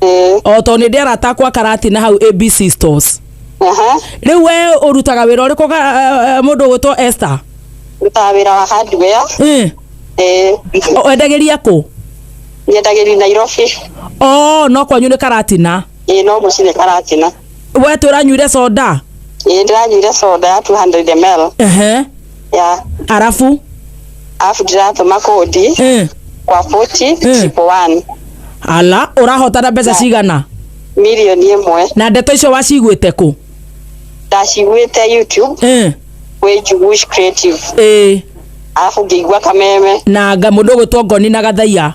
ĩĩ o tondũ nĩ ndĩ arata akwa karati na hau abc stores aha rĩu we ũrutaga wĩra ũrĩkũ ga- eh, eh, mũndũ ũgwĩtwo esther ndutaga wĩra wa hardware Eh, ĩĩ o- wendagĩria kũ nyendagĩri nairobi o no kwanyu nĩ karatina ĩĩ no mũcine karatina we twĩranyuire soda ĩĩ ndĩranyuire soda ya 200 ml ehe ya arabu alafu ndĩratũma kũndi eh, kwa 40 triple one ala ũrahotana mbeca cigana milioni ĩmwe na ndeto icio waciguĩte kũ ndaciguĩte youtube eh, gwĩ njugush creative eh, alafu ngĩigua kameme na nga mũndũ ũgwĩtwo ngoni na gathaiya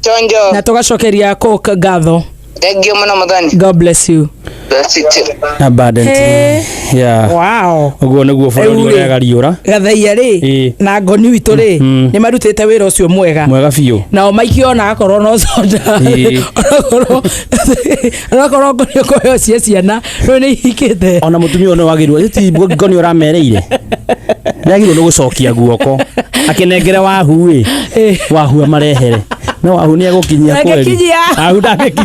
Chonjo. na tugacokeria cook ngatho Tengio mũno mũthoni. god bless you Bless you too. abundant Hey. yeah wow ũguo nĩguo bũrũri Rĩu rĩ. ũrega riũra gathaia rĩ Ĩ. na ngoni witå rĩ Mhm. nä marutä te wä ra å cio mwega mwega biũ nao maingä ona akorwo no conda Ĩ. onakorwo ngoni å kohe cia ciana rä nä ihikite ona mutumia ũyũ nĩ wagĩrĩirwo ti ngĩko nĩ ũramereire nĩ agĩrĩirwo nĩ gũcokia guoko akĩnengere wahu ĩ Eh. wahu amarehere no wahu nĩ egũkinyia kweri Ndangĩkinyia. wahu ndangĩkinyia